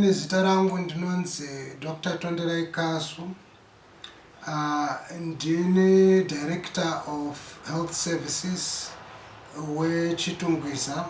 Nezita rangu ndinonzi Doctor Tonderai Kasu ndini director of health services weChitungwiza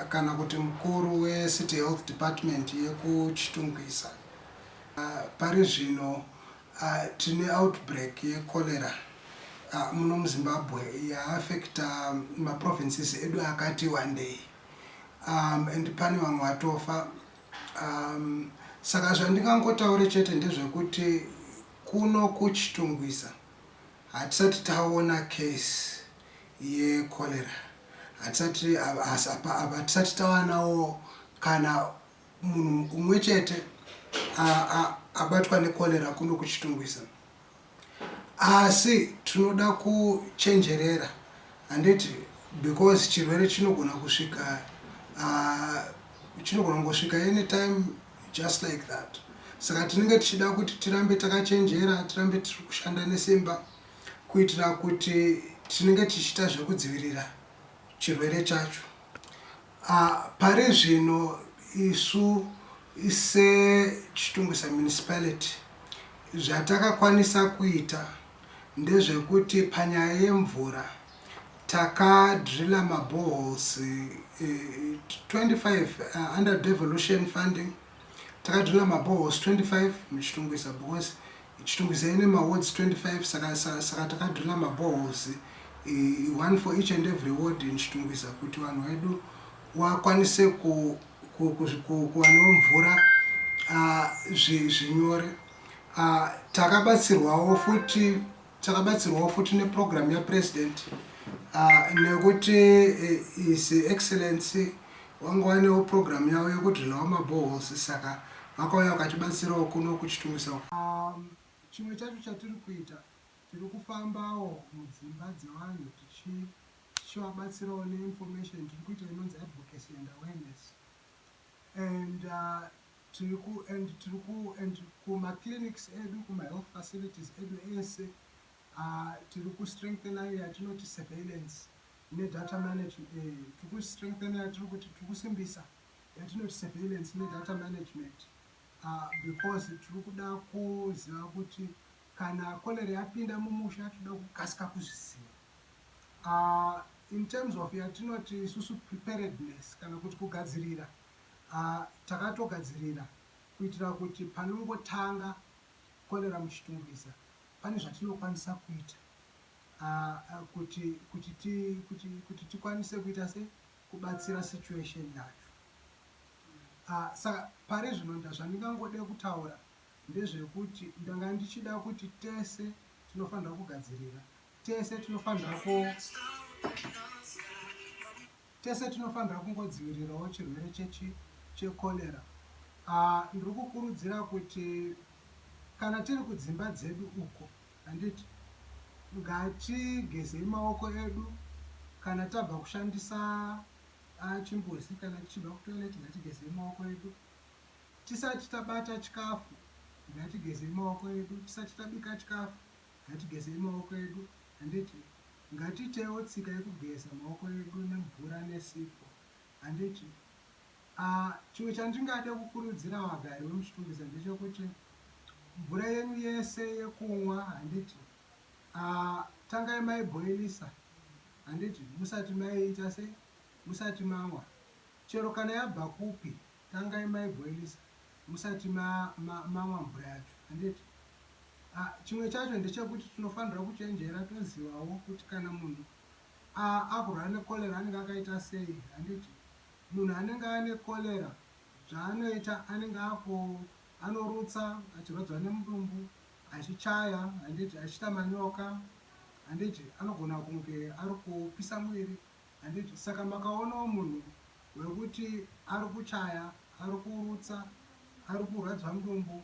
kana kuti mukuru wecity health department yekuChitungwiza. Pari zvino tine outbreak yecholera muno muZimbabwe yaafecta maprovinces edu akati wandei. umm and pane vamwe vatofa umm saka zvandingangotaure chete ndezvekuti kuno kuChitungwiza hatisati taona case yecholera hatisati hatisati tawanawo kana munhu umwe chete abatwa necholera kuno kuChitungwiza. Asi tinoda kuchenjerera handiti because chirwere chinogona kusvika chinogona kungosvika anytime just like that saka tinenge tichida kuti tirambe takachenjera tirambe tiri kushanda nesimba kuitira kuti tinenge tichiita zvekudzivirira chirwere chacho. Pari zvino isu seChitungwiza Municipality zvatakakwanisa kuita ndezvekuti panyaya yemvura taka driller ma boreholes 25 under devolution funding, taka driller ma boreholes 25 muChitungwiza because Chitungwiza ine ma wards 25 saka saka saka takadriller ma boreholes eh, one for each and every ward in Chitungwiza kuti vanhu vedu wakwanise ku ku- ku- ku- kuwanawo mvura ah, zvi- zvinyore Ah, takabatsirwawo futi takabatsirwawo futi neprogram yapresident Ah, nekuti eh, his excellency Wange wainewo program yavo yekudrillawo ma boreholes saka vakauya vakatibatsirawo kuno kuChitungwiza uko. Umm chimwe chacho chatiri kuita tiri kufambawo mudzimba dzevanhu tichi tichivabatsirawo ne information tiri kuita inonzi advocacy and awareness and tiri ku and tiri ku and kuma clinics edu kuma health facilities edu ese umm tiri ku strengthener iyo yatinoti surveillance ne data management eh tiriku strengthener yatiri kuti tiri kusimbisa yatinoti surveillance ne data management ah because tiri kuda kuziva kuti kana cholera yapinda mumusha tinoda kukasika kuzviziva ah in terms of yatinoti isusu preparedness kana kuti kugadzirira ah takatogadzirira kuitira kuti panongotanga cholera muchitungwiza pane zvatinokwanisa kuita kuti kuti ti kuti kuti tikwanise kuita sei kubatsira situation yacho saka pari zvino zvandingangode kutaura ndezvekuti ndanga ndichida kuti tese tinofanira kugadzirira tese tinofanira ku Tese tinofanira kungodzivirirawo chirwere chechi checholera. Ahh ndiri kukurudzira kuti kana tiri kudzimba dzedu uko handiti ngatigezei maoko edu kana tabva kushandisa ahh chimbuzi kana tichibva kutoilet ngatigezei maoko edu tisati tabata chikafu ngatigezei maoko edu tisati tabika chikafu ngatigezei maoko edu Handiti ngatiitewo tsika yekugeza maoko edu nemvura nesipo? Handiti? Ah, chimwe chandingade kukurudzira vagari vemuChitungwiza ndechekuti mvura yenyu yese yekunwa, handiti? Ah, tangai maibhoilisa, handiti, musati maiita sei? Musati manwa, chero kana yabva kupi, Tangai maiboilisa musati mamwa mvura yacho handiti? Chimwe chacho ndechekuti tinofanirwa kuchenjera tozivawo kuti kana munhu akurwara necholera anenge akaita sei handiti? Munhu anenge ane cholera zvaanoita anenge ako anorutsa achirwadziwa nemudumbu achichaya handiti achiita manyoka handiti anogona kunge ari kupisa muviri Handiti saka makaonawo munhu wekuti ari kuchaya, ari kurutsa, ari kurwadziwa mudumbu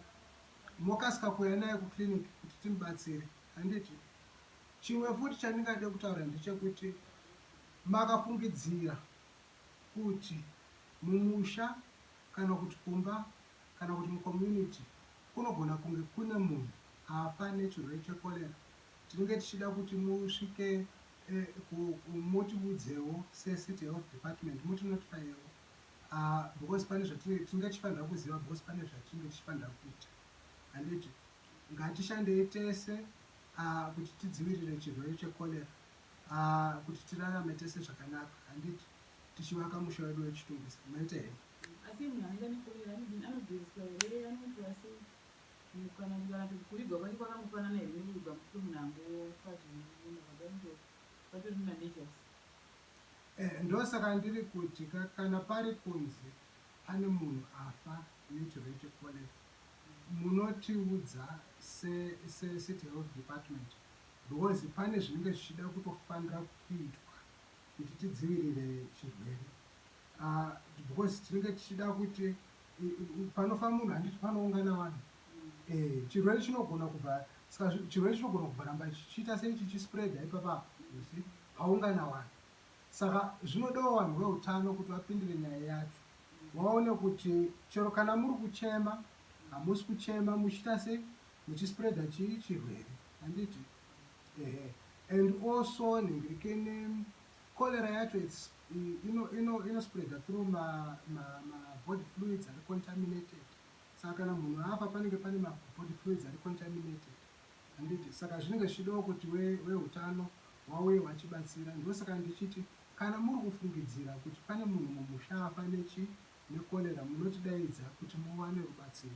mokasika kuuya naye kuclinic kuti timubatsire handiti? Chimwe futi chandingade kutaura ndechekuti makafungidzira kuti mumusha kana kuti kumba kana kuti mucommunity kunogona kunge kune munhu afa nechirwere checholera Tinenge tichida kuti musvike motiudzewo se city health department moti notifayewo because pane zvatinenge tinenge tichifanira kuziva because pane zvatinenge tichifanira kuita handiti ngatishandei tese kuti tidzivirire chirwere checholera kuti tirarame tese zvakanaka handiti tichivaka musha wedu wechitungwiza maita here asi munhu anoita necholera anodini anogezwa here anoitwa sei Umm kana ndikana kuti kuvigwa kwacho kwakangofanana here nekuvigwa mufi munhu angofa zvine munhu akadai ndo patori ma natures. Ehe ndosaka ndiri kuti ka kana pari kunzi pane munhu afa yut rate collect munotiudza se se city health department because pane zvinenge zvichida kutofanira kuitwa kuti tidzivirire chirwere aah because tinenge tichida kuti panofa munhu handiti panoungana vanhu eh, chirwere chinogona kubva ska chirwere chinogona kubva ramba chichiita sei chichispreada ipapa usi paungana vanhu saka zvinodawo vanhu veutano kuti vapindire nyaya yacho vaone kuti chero kana muri kuchema hamusi kuchema muchiita sei muchispreada chii chirwere handiti ehe and also nengirikene Cholera yacho its ino ino ino spreader through ma ma ma body fluids ari contaminated saka kana munhu afa panenge pane ma body fluids ari contaminated handiti saka zvinenge zvichidawo kuti we wehutano wauye wachibatsira ndosaka ndichiti kana muri kufungidzira kuti pane munhu mumusha afa nechi ne cholera munotidaidza kuti muwane rubatsiro.